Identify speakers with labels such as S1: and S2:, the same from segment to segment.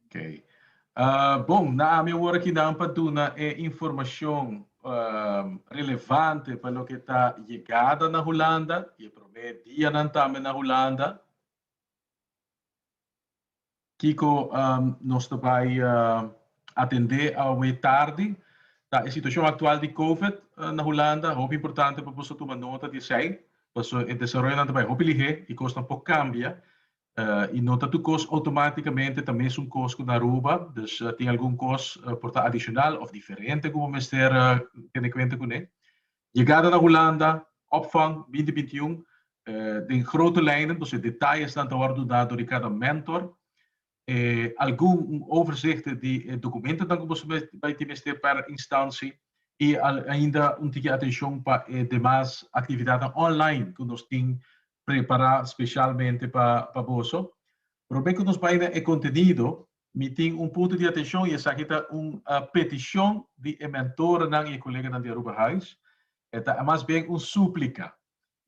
S1: Okay. Uh, bon, na ami awor aki dan pa duna e informacion um, relevante pa lo que ta llegada na Holanda, e primer dia nan tambe na Holanda. Kiko nos ta bai atendé awe tardi ta e situashon aktual di Covid na Hulanda. Hopi importante pa boso tuma nota di esei, paso e desaroyonan ta bai hopi lihé i kosnan por kambia. I no ta tur kos outomátikamente ta mesun kos ku na Aruba, dus tin algun kos por ta adishonal òf diferente ku bo mester tene kuenta kuné. Yegada na Hulanda, Opvang binti binti un, Den grote lijnen, nos e detalesnan ta wòrdu dá dor di kada mentor. E algun un overzichte di e dokumentonan ku boso bai tin mester pèr instansi i ainda un tiki atenshon pa e demas aktividatnan online ku nos tin prepará spesialmente pa boso. Promé ku nos bai na e kontenido, Mi tin un punto di atencion y esaki ta un peticion di e mentorenan y e coleganan di Aruba Highs. E ta mas bien un suplica.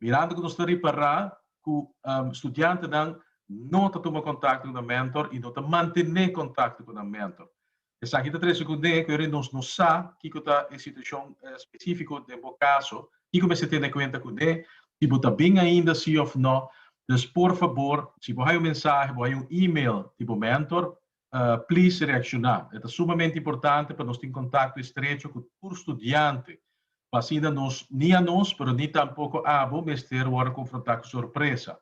S1: Mirando cu nos ta ripara cu studiantenan no ta tuma contacto cu nan mentor y no ta mantene contacto cu nan mentor. Esaki ta trece cunde cu nos no sa kico ta e situacion specifico den bo caso tin cu mester tene cuenta cu de, si bo ta bin ainda si of no, dus por fabor si bo hay un mensahe, bo hay un email di bo mentor, please reacciona. E ta sumamente importante pa nos tin contacto estrecho cu tur studiante pa asina nos, ni a nos pero ni tampoco abo mester wordo confronta cu sorpresa.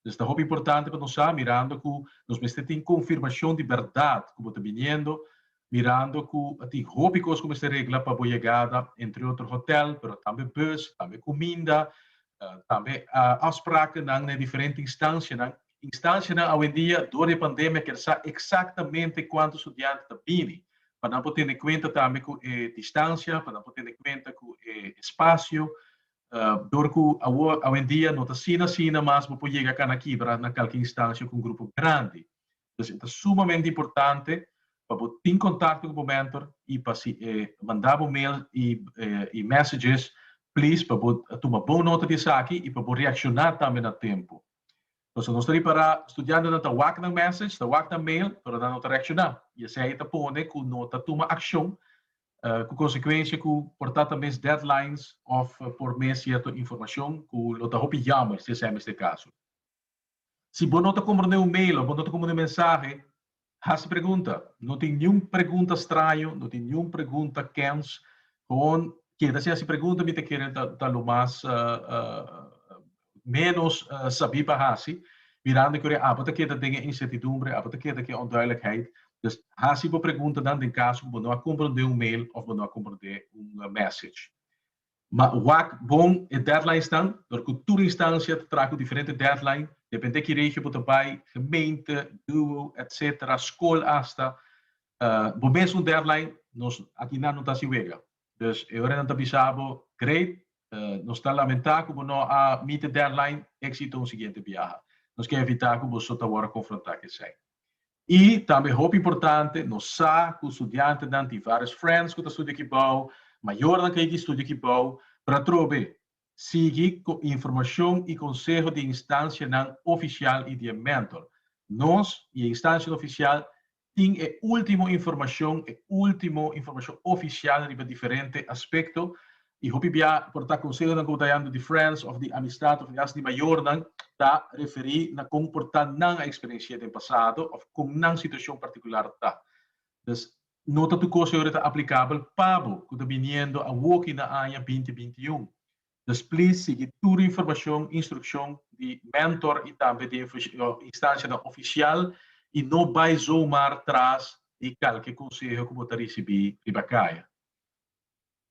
S1: Pues ta hopi importante pa nos sa, mirando cu nos mester tin confirmacion di berdad cu bo ta biniendo, mirando cu a tin hopi cos cu mester regla pa bo yegada, entre otro hotel, pero tambe bus, tambe cuminda, tambe afsprakennan na e diferente instancianan. Instancianan awendia dor di e pandemia kier sa exactamente cuanto studiantenan ta bini, pa nan por tene cuenta tambe cu e distancia, pa nan por tene cuenta cu e espacio, Dor ku awor, awendia, no ta sina sina mas bo por yega kana kibra na kalke instansha ku un grupo grandi. Entonces e ta sumamente importante pa bo tin kontakto ku bo mentor i pa si e manda bo mail i messages, please pa bo tuma bon nota di esaki i pa bo reakshoná tambe na tempu. Entonces nos ta ripará studiantenan ta wak nan message, ta wak nan mail, pero nan no ta reakshoná i esei ta pone ku no ta tuma akshon Ku konsekuensia ku por ta ta mes deadlines òf por mes sierto informashon ku lo ta hopi yammer si esei mester kaso. Si bo no ta komprende un mail òf bo no ta komprende un mensahe, hasi pregunta. No tin niun pregunta straño, no tin niun pregunta kèns. Gewoon keda sin hasi pregunta mi ta kere ta lo mas menos sabí pa hasi, mirando ku abo ta keda den e insertidumbre, abo ta keda ku e onduidelijkheid. Dus hasi bo preguntanan den kaso ku bo no a komprondé un mail òf bo no a komprondé un mèsej. Ma wak bon e deadlinesnan, dor ku tur instansia ta traha ku diferente deadline, dependé ki regio bo ta bai, gemeente, duo, etc. Skol asta, bo mes un deadline, nos akinan no ta hasi wega. Dus e ora nan ta bisa bo, Great, nos ta lamentá ku bo no a meet e deadline, éksito un siguiente biaha. Nos ke evitá ku bo so ta wòrdu konfrontá k'esei. I tambe hopi importante, nos sa ku studiantenan tin vários friends ku ta studia aki bou, mayornan ka yegi studia aki bou. Pr'atrobe, sigui ku informashon i konseho di e instansianan ofisial i di e mentor. Nos i e instansianan ofisial tin e ultimo informacion, e ultimo informacion oficial riba diferente aspecto y hopi bia por ta consehonan cu bo ta hallando di friends of di amistad of haste di mayornan ta referi na con por ta nan a experiencia den pasado of con nan situacion particular ta. Pues no ta tur cosa ayora ta aplicabel pa bo cu ta biniendo awoki na aña binti binti un. Dus please sigui tur informashon, instrukshon di mentor i tambe di instanshanan ofishial i no bai zomar tras di kalke konseho ku bo ta risibí riba kaya.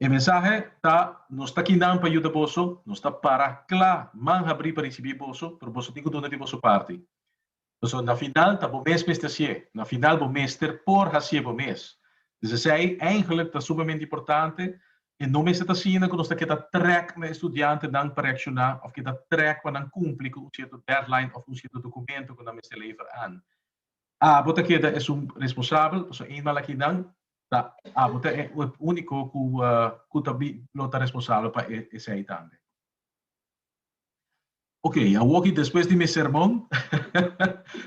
S1: E mensahe ta, Nos ta aki nan pa yuda boso, nos ta para kla, man habrí pa risibí boso, pero boso tin ku duna di boso parti. Pasobra na final ta bo mes mester hasié. Na final bo mester por hasié bo mes. Pues esei eindelijk ta sumamente importante en no mester ta asina ku nos ta keda trèk na estudiantenan pa reakshoná òf keda trèk pa nan kumpli ku un sierto dèdlain òf un sierto dokumentu ku nan mester lever an. Abo ta keda e sum responsabel, pasobra eenmaal akinan ta abo ta e úniko ku ta lo ta responsabel pa esei tambe. Ok, awoki despues di mi serbon,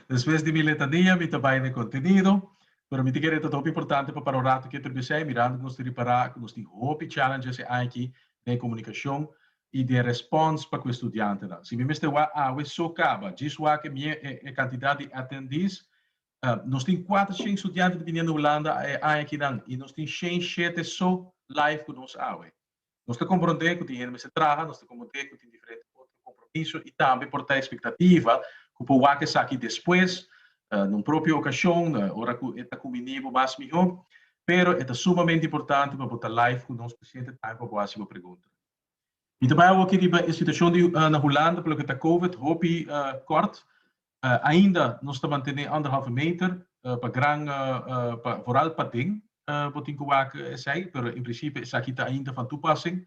S1: despues di mi letania, mi ta bai na e kontenido, pero mi ta kere ta hopi importante pa para un ratu keter bisai, mirando ku nos ta repará ku nos tin hopi challenges e aña aki den komunikashon i den respons pa ku e studiantenan. Si mi mester wak awe so kaba, djis wak e mie e kantidat di attendees, nos tin kuater shen studiante ta bini na Hulanda e aña akinan i nos tin shen shete so live ku nos awe. Nos ta komprondé ku tin hende mester traha, nos ta komprondé ku tin diferente otro kompromiso i tambe por ta espektativa ku por wak esaki despues, na un propio okashon, ora ku e ta kuminé bo mas mihó. Pero e ta sumamente importante pa bo ta live ku nos pa shente tambe pa bo hasi bo pregunta. Mi ta bai awoki riba e situashon di na Hulanda, pa loke ta Covid, hopi kòrt. Ainda nos ta mantené anderhalve meter pa gran pa vooral pa den bo tin ku wak esei pero en prinsipio esaki ta ainda van toepassing.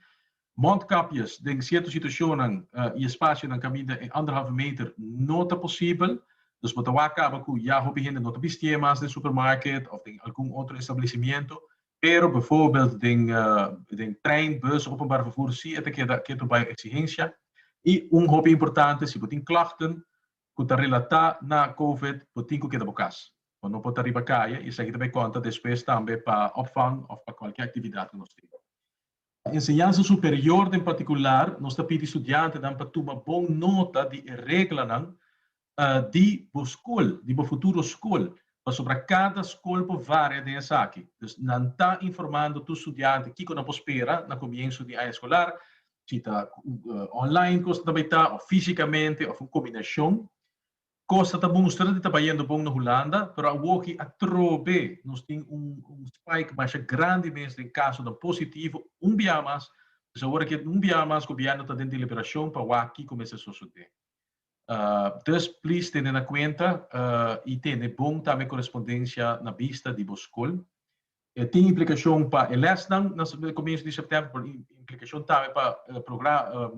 S1: Mondkapjes den sierto situashonnan i espasionan kaminda e anderhalve meter no ta posibel dus bo ta wak kaba ku ya hopi hende no ta bistié mas den supermarket òf den algun otro establecimiento Pero bevoorbeeld den den trein, bus, openbaar vervoer si e ta keda ketu bay exigencia. Y un hopi importante si bo tin klachten cu ta relata na covid bo tin cu keda bo cas. Bo no por ta riba caye y esaki ta bay conta despues tambe pa opvang of pa cualkier actividad cu nos tin. Pa enseñansa superior den partikular, nos ta pidi studiantenan pa tuma bon nota di e reglanan di bo skol, di bo futuro skol, pasobra kada skol por varia den esaki. Dus nan ta informando tur studiante kiko nan por spera na komienso di aña eskolar, si ta online kos nan ta bai ta, òf físikamente, òf un kombinashon. Cosa ta mustra di ta bayendo bon na Hulanda, pero awoki atrobe nos tin un un spike masha grandi mes den casonan positivo un bia mas, pues awor aki un bia mas gobierno ta den deliberacion pa wak kico mester sosode. Dus please tene na cuenta y tene bon tambe correspondencia na bista di bo scol E tin implikashon pa e lèsnan na komienso di sèptèmber, pero e implikashon tambe pa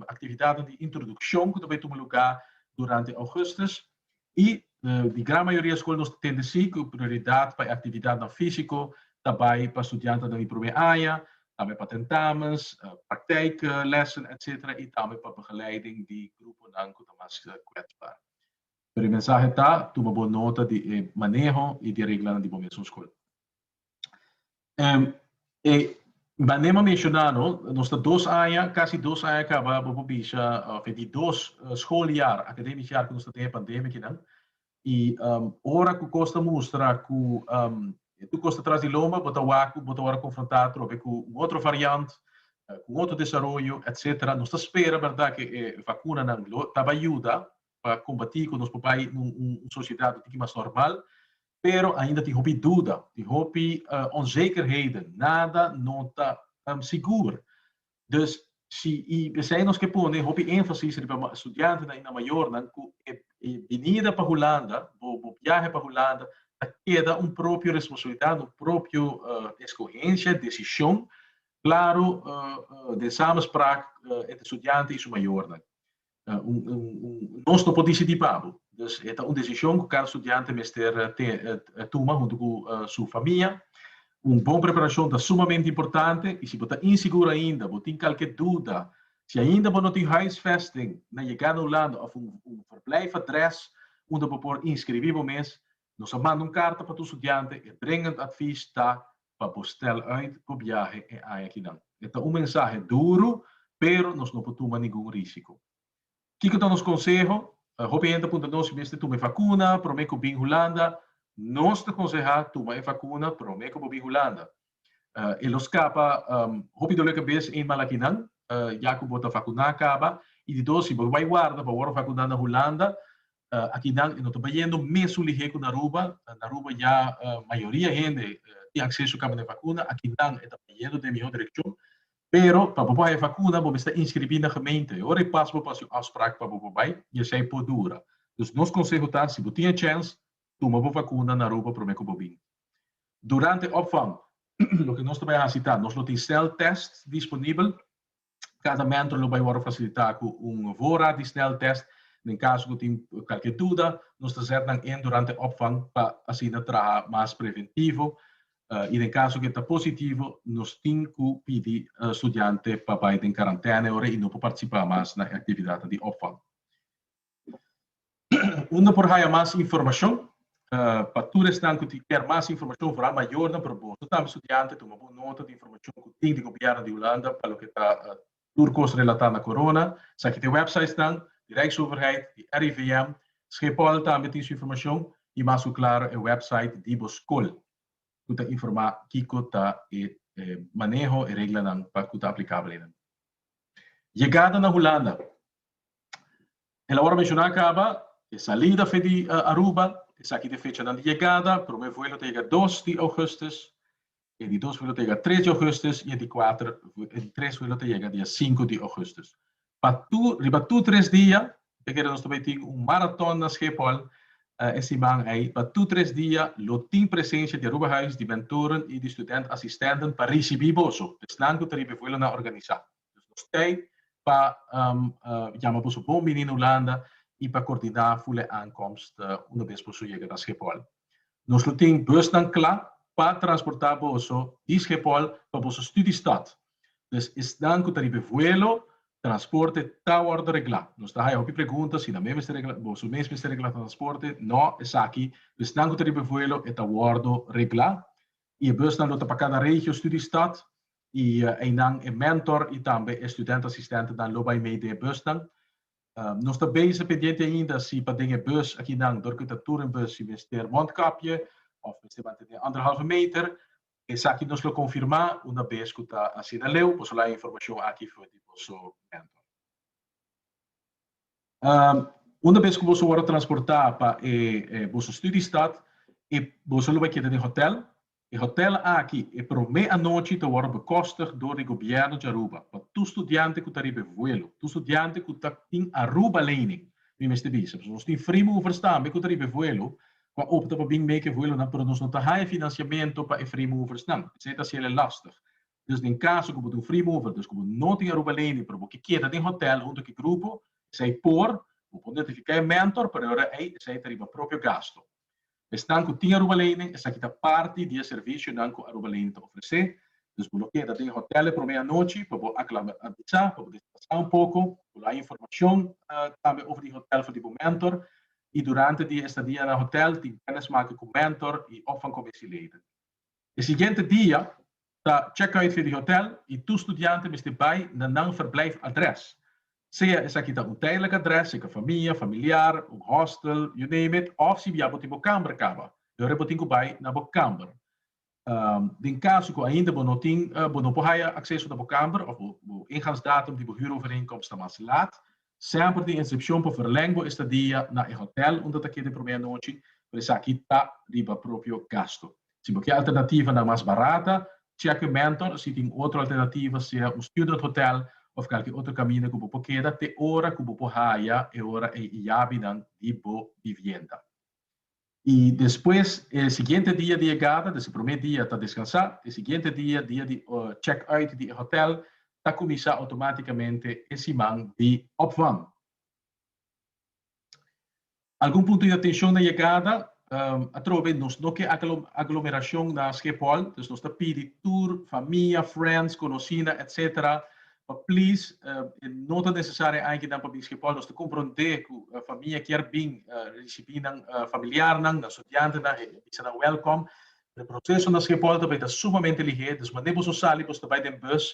S1: aktividatnan di introdukshon ku ta bai tuma lugá durante ougùstus. I di gran mayoria skol nos ta tende si ku prioridat pa e aktividatnan físiko ta bai pa studiantenan di promé aña, tambe pa tentamens, praktijklessen etsetera i tambe pa begeleiding di gruponan ku ta mas kwetsbaar. Pero e mensahe ta, tuma bo nota di e maneho i di e reglanan di bo mesun skol. Bané m'a menshoná no, nos ta dos aña, kasi dos aña kabá, bo por bisha òf e di dos schooljaar, academisch jaar, ku nos ta tin e pandemia akinan. I ora ku kos ta mustra ku tur kos ta tras di loma, bo ta wak ku bo ta wòrdu konfrontá atrobe ku un otro variant, ku un otro desaroyo, etcetera. Nos ta spera, bèrdat, ku e vakunanan lo ta bai yuda pa kumpatí ku nos por bai na un sosiedat un tiki mas normal, pero ainda tin hopi duda, tin hopi onzekerheden, nada no ta sigur. Dus si i p'esei nos ke pone hopi énfasis riba studiantenan i na mayornan ku e binida pa Hulanda, bo biahe pa Hulanda ta keda un propio responsabilidat, un propio eskohensia, desishon, klaru den samenspraak entre studiante i su mayornan. Nos no por disidí pa bo. Dus e ta un desishon ku kada studiante mester tuma huntu ku su famia. Un bon preparashon ta sumamente importante i si bo ta insigur ainda, bo tin kalke duda, si ainda bo no tin huisvesting na yegá na Hulanda òf un verblijf adrès unda bo por inskribí bo mes, nos a manda un karta pa tur studiante. E dringend advies ta pa bo stèl ùit bo biahe e aña ki nan. E ta un mensahe duru, pero nos no por tuma ningun rísiko. Kiko ta nos konseho? Hopi hende a puntra nos si bo mester tuma e vakuna promé ku bin Hulanda. Nos ta konsehá tuma e vakuna promé ku bo bin Hulanda. E lo skapa hopi dolekabes ein malakinan ya ku bo ta vakuná kaba. I di dos, si bo bai warda pa wòrdu vakuná na Hulanda, akinan e no ta bayendo mesun lihé ku na Aruba. Na Aruba ya mayoria hende tin akseso kaba na e vakuna. Akinan e ta bayendo den mihó direkshon. Pero pa bo por haña e vakuna bo mester inskribí na gemeente. Ora e pasa bo por hasi un afsprak pa bo por bai i esei por dura. Dus nos konseho ta si bo tin e chèns tuma bo vakuna na Aruba promé ku bo bin. Durante e opvang loke nos ta bai hasi ta nos lo tin sèl tèst disponibel Tratamento lo bai wòrdu fasilitá ku un vora di snèltèst. Den kaso ku tin kalke duda, nos ta sèt nan in durante opvang pa asina traha mas preventivo. I den kaso ku e ta positivo, nos tin ku pidi studiante pa bai den karantène ora i no por partisipá mas na e aktividatnan di opvang. Unda por haya mas informacion? Pa tur esnan cu tin kier mas informacion, vooral mayornan, pero boso tambe studianten, tuma bon nota di informacion cu tin di Gobierno di Hulanda pa loke ta tur cos relata na corona. Esaki ta e websitesnan di Rijksoverheid, di RIVM. Schiphol tambe tin su informacion y mas cu claro e website di bo scol cu ta informa kico ta e maneho, e reglanan pa cu ta aplicabel ey nan. Yegada na Hulanda. Elawor a menshoná kaba e salida fe di Aruba, esaki ta e fechanan di yegada, promé vuelo ta yega dos di ougùstus, e di dos vuelo ta yega tres di ougùstus i e di kuater e di tres vuelo ta yega dia sinku di ougùstus. Pa tur riba tur tres dia, e kere nos ta bai tin un maraton na Schiphol e siman ei, pa tur tres dia lo tin presensha di Aruba Huis di Mentoren i di Student Assistenten pa risibí boso, esnan ku ta riba e vuelonan organisá. Dus nos tei pa yama boso bon bini na Hulanda i pa kordiná ful e aankomst una bes boso yega na Schepol. Nos lo tin busnan kla pa transportá boso di Schepol pa boso studiestad. Dus esnan ku ta riba e vuelo, transporte ta wòrdu reglá. Nos ta haya hopi pregunta si nan mes mester reglá, boso mes mester reglá transporte. Nò, esaki pa esnan ku ta riba e vuelo e ta wòrdu reglá i e busnan lo ta pa kada regio, studiestad I einan e mentor i tambe e student asistentenan lo bai mei den e busnan. Nos ta bezig pendiente ainda si pa den e bus akinan dor ku e ta tur en bus si mester mondkapje òf mester mantene anderhalve meter. Esaki nos lo konfirmá una bes ku ta asina leu. Boso laga e informashon aki for di boso mentor. Una bes ku boso wòrdu transportá pa e boso studiestad, boso lo bai keda den hòtèl E hotel aki e promé anochi ta wòrdu bekòstig dor di gobièrnu di Aruba pa tur studiante ku ta riba e vuelo. Tur studiante ku ta tin Aruba lening, mi mester bisa, pasobra nos tin frimi movers tambe ku ta riba e vuelo ku a opta pa bin meik e vuelonan, pero nos no ta haña finansiamentu pa e free moversnan. Esei ta hasiel e lòstig. Dus den kaso ku bo ta un free mover, dus ku bo no tin Aruba lening, pero bo ke keda den hotel huntu ku e grupo, esei por, bo por notifiká e mentor, pero ora ei esei ta riba propio gasto. Esnan ku tin Aruba Leinen, esaki ta parti di e servisionan ku Aruba Leinen ta ofresé. Dus bo lo keda den e hotèl e promé anochi pa bo aklimatisá, pa bo desplansá un poko. Bo lo haña informashon tambe over di hotèl for di bo mentor. I durante di e estadia na hotèl tin kènis make ku mentor i òf van kominsieleider. E siguiente dia ta checkuit for di hotel y tur studiante mester bay na nan verblijf adres. Sea esaki ta un tijdelijk adres, zeker famia, familiar, un hostel, you name it, of si bia bo tin bo kamber caba, e ora bo tin cu bay na bo kamber. Den caso cu ainda bo no tin, bo no por haya acceso na bo kamber of bo ingangsdatum di bo huurovereenkomst ta mas laat, semper tin excepcion pa verleng bo estadia na e hotel unda ta keda e promé anochi, pero esaki ta riba propio gasto. Si bo ke alternativa nan mas barata, cheke Mentor si tin otro alternativa, sea un student hotel of kalke otro kaminda ku bo por keda te ora ku bo por haya e ora ei e yabinan di bo bibienda. I despues e siguiente dia di yegada, des e promé dia ta deskansa, e siguiente dia, dia di check uit di e hotel, ta kuminsá outomátikamente e siman di opvang. Algun punto di atencion na yegada, atrobe nos no ke aglomeracion na Schiphol, dus nos ta pidi tur famia, friends, conosina, etc. Pa please, e no ta necesario e aña nan pa bin Schiphol, nos ta compronde cu famia kier bin ricibi nan familiarnan, nan studiantenan, e bisa nan welcome. Pero e proceso na Schiphol ta bay ta sumamente lihé, dus mane boso sali, boso ta bay den bus,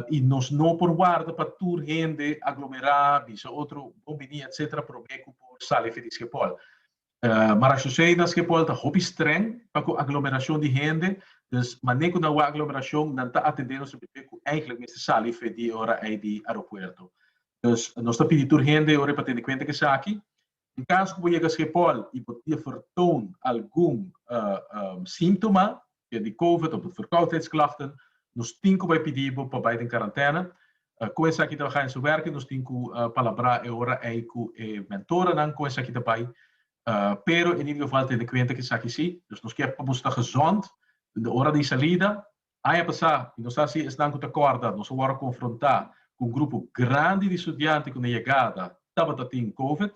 S1: I nos no por warda pa tur hende aglomerá, bisa otro bon biní etcétera promé ku por sali afe di skepòl. Marasjosé na skepòl ta hopi strèng pa ku aglomerashon di hende, dus mané ku nan wak aglomerashon nan ta atendé nos tabé ku eigentlik mester sali afe di e ora ei di aeropuerto. Dus nos ta pidi tur hende ora ei pa tene kuenta ku esaki Tin kas ku bo yega skepòl i bo ta vertoon algun síntoma ke di covid òf di verkoudheidsklachten, nos tin ku bai pidi bo pa bai den karantèna. Kon esaki ta baha en su werki nos tin ku palabrá e ora ei ku e mentoranan kon esaki ta bai, pero e nigda geval tene kuenta ku esaki sí. Dus nos ke pa boso ta gezond den de ora di salida Aña pasá, i nos ta hasi esnan ku ta kòrda, nos a wòrdu konfrontá ku un grupo grandi di studiante ku na yegada tabata tin Covid.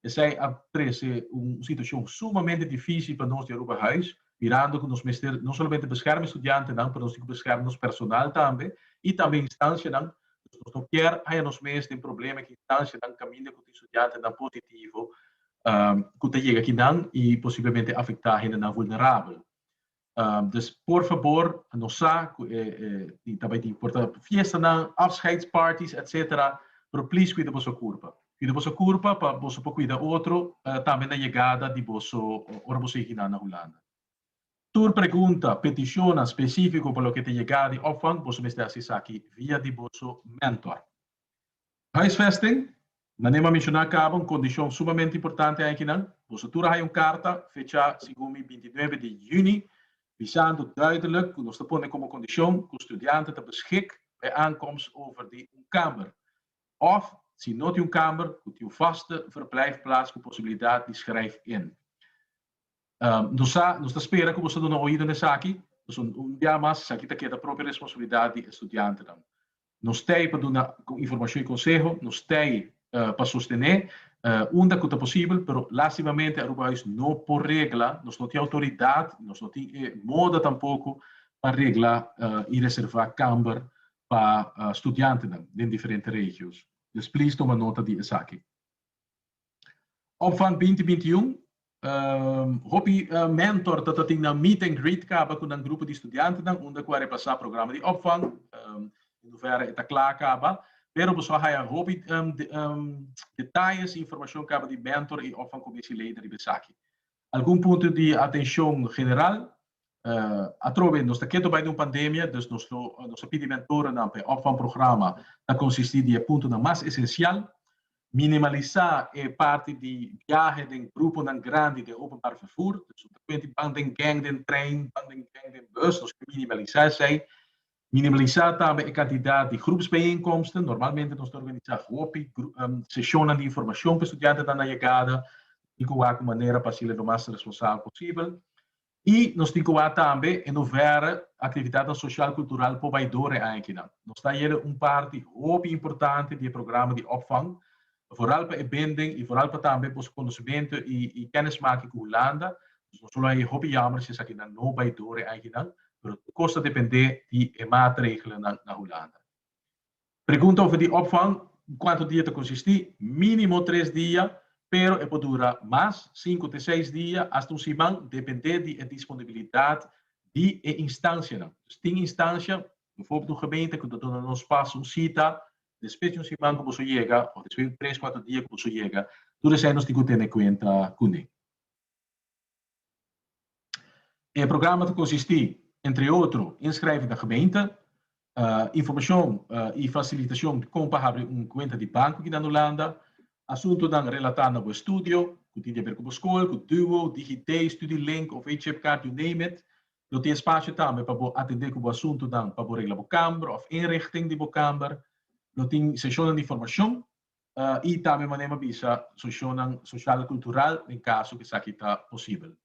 S1: Esei a trese un situashon sumamente difísil pa nos di Aruba Huis, mirando ku nos mester no solamente beskèrma e studiantenan, pero nos tin ku beskèrma nos personal tambe i tambe instanshanan. Dus nos no kier haña nos mes den problema ku instanshanan kaminda ku tin studiantenan positivo ku ta yega aki nan i posiblemente afektá hendenan vulnerabel. Dus por fabor nos sa cu e tin ta bay tin porta fiestanan, afscheidsparties etc. Pero please cuida boso curpa. Cuida boso curpa pa boso por cuida otro tambe na yegada di boso ora boso yeg hinan na Hulanda. Tur pregunta, peticionnan specifico pa loke ta yegada di opvang boso mester haci esaki via di boso mentor. Huisvesting, Na nima menshoná caba un condicion sumamente importante aña kinan. Boso tur a haya un carta fechá segun mi binti nuebe di juni bisando duiderlijk cu nos ta pone como condicion cu studiante ta beschik bij aankomst over di un kamer of, si no tin un kamer, cu tin un vaste verblijfplaats cu posibilidad di schrijf in. Nos sa, nos ta spera cu boso duna oido na esaki, pasobra un bia mas esaki ta keda propio responsabilidad di e studiantenan. Nos ta ei pa duna informashon i konseho, nos ta ei pa sostené unda ku ta posibel, pero lastimamente Aruba Huis no por regla, nos no tin outoridat, nos no tin e moda tampoko pa regla i reservá kamber pa studiantenan den diferente regios. Pues, please toma nota di esaki. Op van binti binti un hopi mentor ta tatin nan meet and greet kaba ku nan grupo di studiantenan unda ku a repasá programa di Op van den huvera e ta kla kaba pero boso a haya hopi detayes i informashon kaba di mentor i Op van Komissieleider riba esaki. Algun punto di atencion general, Atrobe nos ta ketu bai den un pandemia, dus nos lo nos a pidi mentorennan pa e opvangprograma ta konsisti di e puntonan mas esensial, Minimalisá e parti di biahe den gruponan grandi den openbaar vervoer, dus no ta kuenti ban den gèng den trein, ban den gèng den bus, nos ke minimalisá esei, Minimalisá tambe e kantidat di grupsbijeenkomsten. Normalmente nos ta organisá hopi seshonnan di informashon ku studiantenan na yegada. Nos tin ku wak un manera pa hasi'e lo mas responsabel posibel. I nos tin ku wak tambe e nos wèr aktividatnan soshal kultural por bai dor e aña akinan. Nos ta yele un parti hopi importante di e programa di opvang Vooral pa e binding y vooral pa tambe boso conocimiento y kennismaking cu Hulanda. Dus nos lo a e hopi jammer si esaki nan no bay door e eiginan, pero tur cos ta depende di e maatregelanan na Hulanda. Pregunta over di opvang, Cuanto dia ta consisti? Minimo tres dia, pero e por dura mas, cinco te seis dia, hasta un siman, depende di e disponibilidad di e instancianan. Dus tin instancia, bijvoorbeeld un gemeente cu ta duna nos pas un cita Despues di un siman ku boso yega o despues di un tres kuater dia ku boso yega, tur esei nos tin ku tene kuenta kuné. E programa ta konsistí, entre otro, inskrijf na gemeente, informashon i fasilitashon di kon pa habri un kuenta di banku akí na Hulanda, asuntunan relatá na bo estudio, ku tin di aber ku bo skol, ku Duo, DigiD, Studielink of HipCard, you name it, Lo tin spasio tambe pa bo atendé ku bo asuntunan pa bo regla bo kamber òf inrichting di bo kamber. Lo tin seshonnan di informashon i tambe manera mi a bisa seshonnan sosial i kultural den kaso ku esaki ta posibel.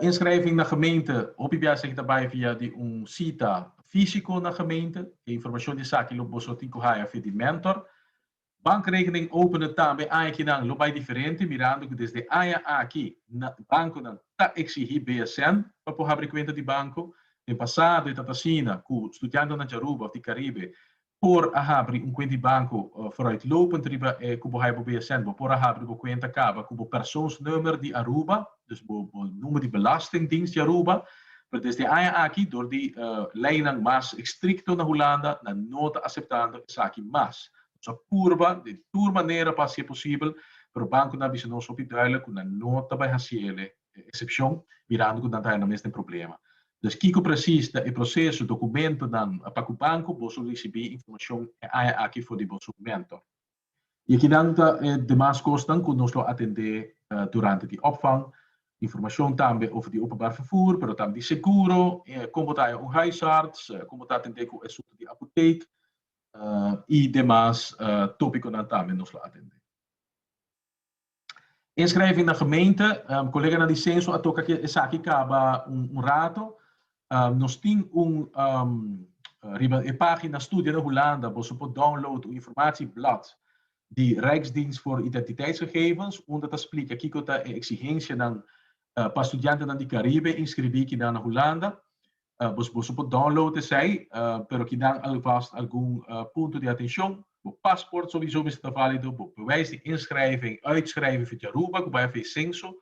S1: Inskrèving na gemeente, hopi bia esaki ta bai via di un sita físiko na gemeente. E informashon di esaki lo boso tin ku haya via di mentor. Bankrekening opende tambe añakinan lo bai diferente mirando ku desde aña aki bankonan ta eksigí BSN pa por habri kuenta di banko. Den pasado e tabata asina ku studiantenan di Aruba òf di Karibe por a habri un kuent di banko foruitlopend riba e ku bo haya bo BSN. Bo por a habri bo kuenta kaba ku bo persoonsnummer di Aruba. Dus bo bo number di belastingdienst di Aruba, pero desde aña aki dor di leinan mas estricto na Hulanda nan no ta aceptando esaki mas. Nos a purba di tur manera pa haci'e posibel, pero banconan a bisa nos hopi duidelijk cu nan no ta bay haci el'e excepcion, mirando cu nan ta haya nan mes den problema. Dus kico precies ta e proceso, documentonan pa cu banco, boso ricibi informacion e aña aki for di boso mentor. I akinan ta e demas kosnan ku nos lo atendé durante di opvang, informashon tambe over di openbaar vervoer, pero tambe di seguro, kon bo ta haña un huisarts, kon bo ta atendé ku esuntu di apotek i demas tópikonan tambe nos lo atendé. Inschrijving na gemeente, colega nan di censo a toca ke esaki caba un rato, nos tin un riba e pagina Studia na Hulanda boso por download un informatie blad di Rijksdienst voor Identiteitsgegevens unda ta splica kiko ta e exigencianan pa studiantenan di Caribe inscribi kinan na Hulanda. Boso boso por download esei, pero kinan alvast algun punto di atencion. Bo pasport sowiso mester ta valido, bo bewijs di inschrijven en uitschrijven for di Aruba ku bai a fei censo.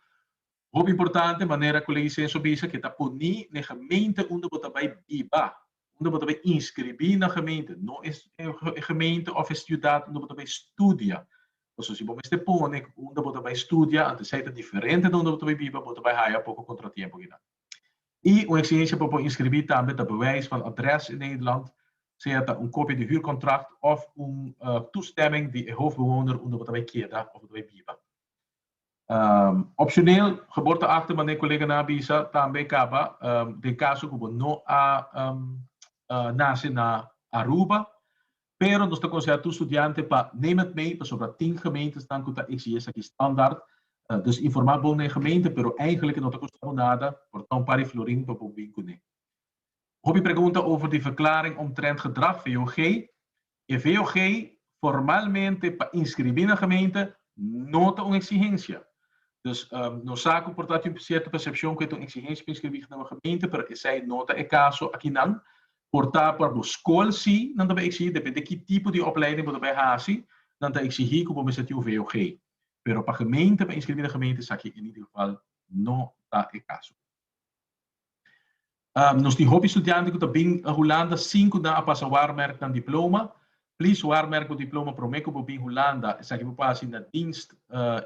S1: Hopi importante, manera Colegi Censo bisa, ke ta poni n'e gemeente unda bo ta bai biba, unda bo ta bai inscribi na gemeente, no e gemeente of e ciudad unda bo ta bai studia. Pasobra si bo mester pone unda bo ta bai studia, ante esei ta diferente di unda bo ta bai biba, bo ta bai haya poko contratiempo kinan. I un eksigensia pa por inskribí tambe ta bewijs van adres in Nederland, sea ta un kopia di huurkontrakt òf un toestemming di e hoofdbewoner unda bo ta bai keda òf bo ta bai biba. Opshoneel, geboorteakte, manera e koleganan a bisa, tambe kaba den kaso ku bo no a nase na Aruba, Pero nos ta konsehá tur studiante pa name at mee pasobra tin gemeintesnan ku ta eksigí esaki standaard. Dus informá bon na e gemeinte pero eigenlik no ta kusta bo nada por ta un pari florin pa bo bin kuné. Hopi pregunta over di Verklaring omtrent Gedrag, VOG, E VOG formalmente pa inskribí na gemeinte no ta un eksigensia. Dus nos sa ku por ta tin sierto persepshon ku e ta un eksigensia pa inskribí na un gemeinte pero esei no ta e kaso akinan. Por ta pa bo skol si, nan ta bai eksigí depende ki tipo di opleiding bo ta bai hasi, nan ta eksigí ku bo mester tin un VOG. Pero pa gemeente, pa inskribí na gemeente esaki en ningún geval no ta e kaso. Nos tin hopi studiante ku ta bin Hulanda sin ku nan a pasa Waarmerk nan diploma. Please Waarmerk bo diploma promé ku bo bin Hulanda. Esaki bo por hasi na Dienst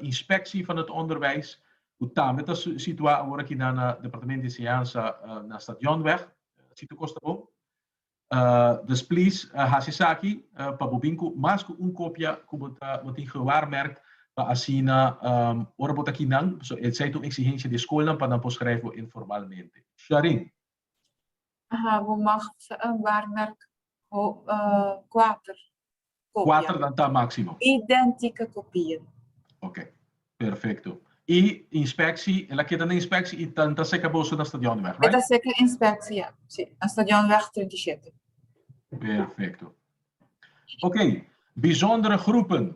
S1: Inspectie van het Onderwijs, ku tambe ta situá awor aki nan na Departement di Enseñansa na Stadionweg. Si ta kosta bo, dus plis hasi esaki pa bo bin ku mas ku un kopia ku bo ta bo tin gewaarmerkt pa asina ora bo ta aki nan so esei ta un eksigensia di skolnan pa nan por skrijf bo informalmente. Sharin. Aha, bo mag waarmerk Cu cuater copia. Cuater nan ta maximo. Identica copia. Ok, perfecto. Y inspecci, el a keda na inspecci y nan ta seca boso na Stadionweg, right? E ta seca inspecci, ja. Si, na Stadionweg treinta i shete. Perfecto. Ok, bijzondere groepen.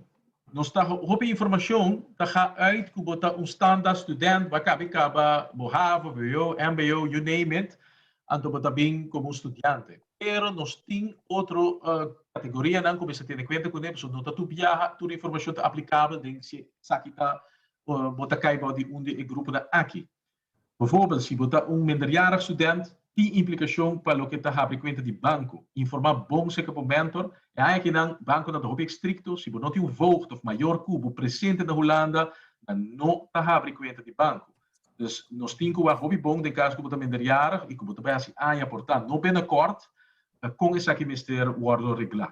S1: Nos ta, hopi informacion ta ga uit cu bo ta un standaard student, bo a cabe caba bo havo, vwo, mbo, you name it, anto bo ta bin como un studiante. Pero nos tin otro kategorianan ku mester tene kuenta kuné pasobra no ta tur biaha tur informashon ta aplikabel den si esaki ta bo ta kai bou di un di e gruponan aki. Befòrbèl si bo ta un minderjarige student tin implikashon pa loke ta habri kuenta di banko. Informá bon serka bo mentor. E aña akinan bankonan ta hopi estrikto, si bo no tin un voogd òf mayor ku bo presente na Hulanda nan no ta habri kuenta di banko. Dus nos tin cu wak hopi bon den cas cu bo ta minderjarig y cu bo ta bay haci aña. Por tant, no bena kort na con esaki mester wordo regla.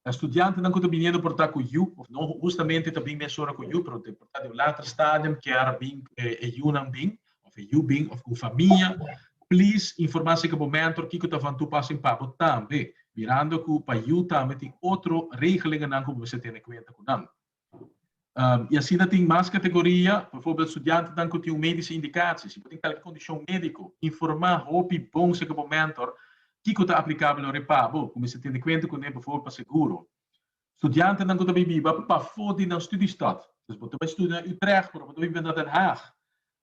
S1: E studiantenan cu ta biniendo por ta cu yu, of no hustamente ta bin mesora cu yu, pero por ta den un later stadium kier bin cu e yunan bin, of e yu bin, of cu famia, please informa acerca bo mentor kico ta van toepassing pa bo tambe, mirando cu pa yu tambe tin otro regelingennan cu bo mester tene cuenta cu nan. Y asina tin mas categoria, bijvoorbeeld studiantenan cu tin un medische indicatie. Si bo tin calke condicion medico, informa hopi bon acerca bo mentor kico ta aplicabel loke pa bo, cu mester tene cuenta cun'e bijvoorbeeld pa seguro. Studiantenan cu ta bay biba pafo di nan studiestad, dus bo ta bay studia na Utrecht pero bo ta biba na Den Haag,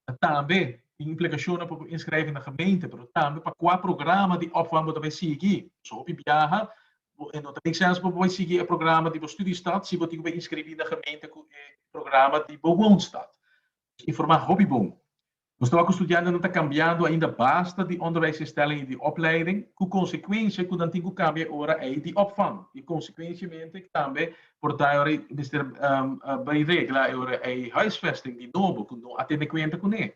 S1: Ta tambe tin implikashonnan pa bo inskrèvi na gemeente, pero tambe pa kua programa di opvang bo ta bai sigui. Pasobra hopi biaha bo e no ta make sens pa bo bai sigui e programa di bo studiestad si bo tin ku bai inskribí na gemeente ku e programa di bo woonstad. Nos informá hopi bon. Nos ta wak ku studiantenan ta kambiando ainda basta di onderwijsinstelling i di opleiding, ku konsekuensia ku nan tin ku kambia e ora ei di opvang i konsekuensiamente tambe por ta e ora ei mester bai regla e ora ei huisvesting di nobo ku no a tene kuenta kuné.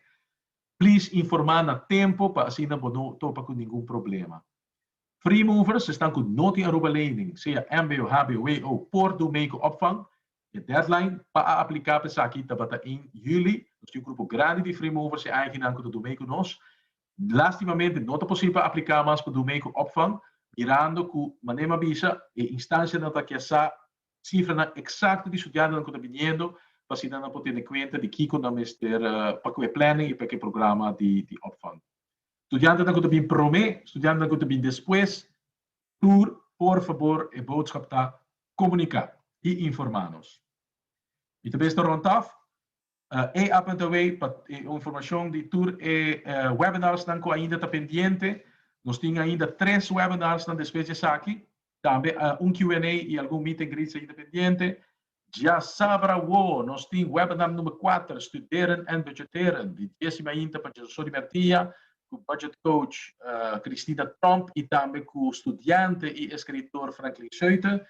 S1: Please informá na tempu pa asina bo no topa ku ningun problema. Free movers, esnan ku no tin Aruba lening, sea mbo, hbo, wbo, por dun mei ku opvang. E deadline pa a apliká pa esaki tabata ein juli. Nos tin un grupo grandi di free movers, e aiginan ku ta dun mei ku nos. Lastimamente no ta posibel pa apliká mas ku Dumei ku Opvang, mirando ku Manem a bisa, e instansianan ta kia sa sifranan eksakto di studiantenan ku ta biniendo pa asina nan por tene kuenta di kiko nan mester pa ku e planning i pa ku e programa di Opvang. Studiantenan ku ta bin promé, studiantenan ku ta bin despues, tur por fabor e boodskap ta komuniká i informá nos. Mi ta mester rònt òf. E apntaway pa e informacion di tur e webinarsnan cu ainda ta pendiente. Nos tin ainda tres webinarsnan despues di esaki. Tambe un Q and A y algun meet and greets ainda pendiente. Diasabra awo nos tin webinar number kuater, Studeren en Budgeteren, di dies y mainta pa José Sori Mertia cu Budget Coach Christina Tromp y tambe cu studiante y escritor Franklin Schouten.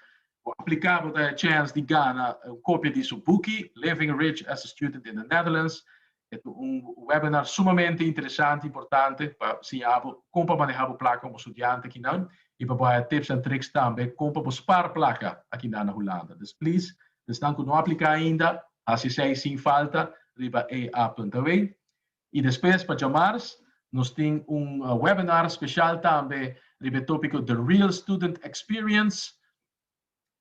S1: Bo apliká bo ta e chèns di gana un kopia di su buki Living Rich as a Student in the Netherlands. E ta un webinar sumamente interesante, importante pa siña bo kon pa manehá bo plaka komo studiante akinan i pa bo haña tips en tricks tambe kon pa bo spar plaka akinan na Hulanda. Dus please, esnan ku no apliká ainda, hasi esei sin falta riba ea.aw. Y despues pa djamars nos tin un webinar special tambe riba e topico The Real Student Experience,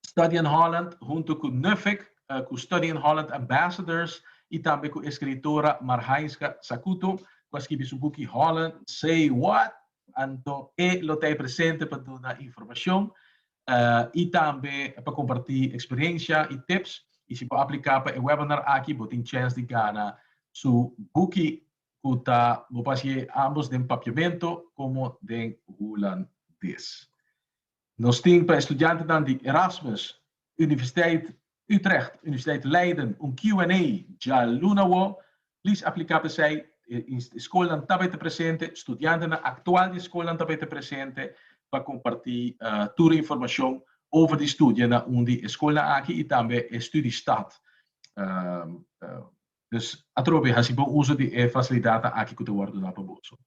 S1: Study in Holland hunto cu NUFEC, cu Study in Holland Ambassadors y tambe cu escritora Marhainska Sakuto cu a skibi su buki Holland Say What. Anto e lo ta e presente pa duna informacion. y tambe pa comparti experiencia y tips y si bo aplica pa e webinar aki bo tin chens di gana su buki cu ta bo por haci'e ambos den Papiamento como den Hulandes. Nos tin pa e studiantenan di Erasmus Universiteit Utrecht, Universiteit Leiden, un Q and A djaluna awor, please aplica pa esey, e scolnan ta bay ta presente, studiantenan actual di e scolnan ta bay ta presente pa comparti tur e informacion over di studionan un di e scolnan aki y tambe e studiestad. Dus atrobe haci bon uso di e facilidadnan aki cu ta wordo dá pa boso.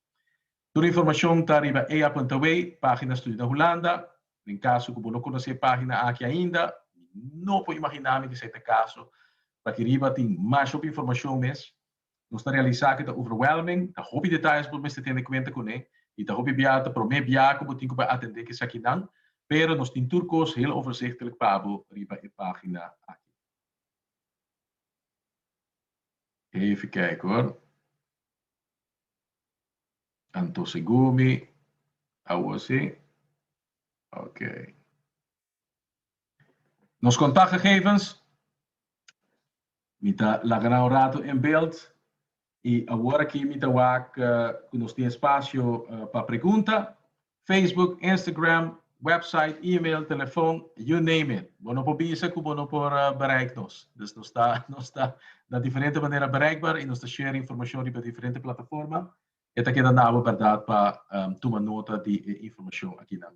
S1: Tur informashon ta riba e apuntaway, Página Studio na Hulanda. Den kaso ku bo no konosé e página aki ainda, mi no por imaginá mi ku esei ta kaso. Por aki riba tin mashop informashon mes. Nos ta realisá ku ta overwhelming, ta hopi detayes ku bo mester tene kuenta kuné, i ta hopi bia ta promé bia ku bo tin ku bai atendé kesakinan, pero nos tin tur kos heel overzichtelijk pa bo riba e página aki. Even kijk hoor. Anto segur mi awor si? Ok. Nos contactgegevens. Mi ta laga nan un rato en beeld y awor aki mi ta wak cu nos tin espacio pa pregunta. Facebook, Instagram, website, email, telefon, you name it. Bo no por bisa cu bo no por bereik nos. Dus nos ta nos ta na diferente manera bereikbaar y nos ta share informacion riba diferente plataforma. E ta keda na abo berdad pa tuma nota di e informacion akinan.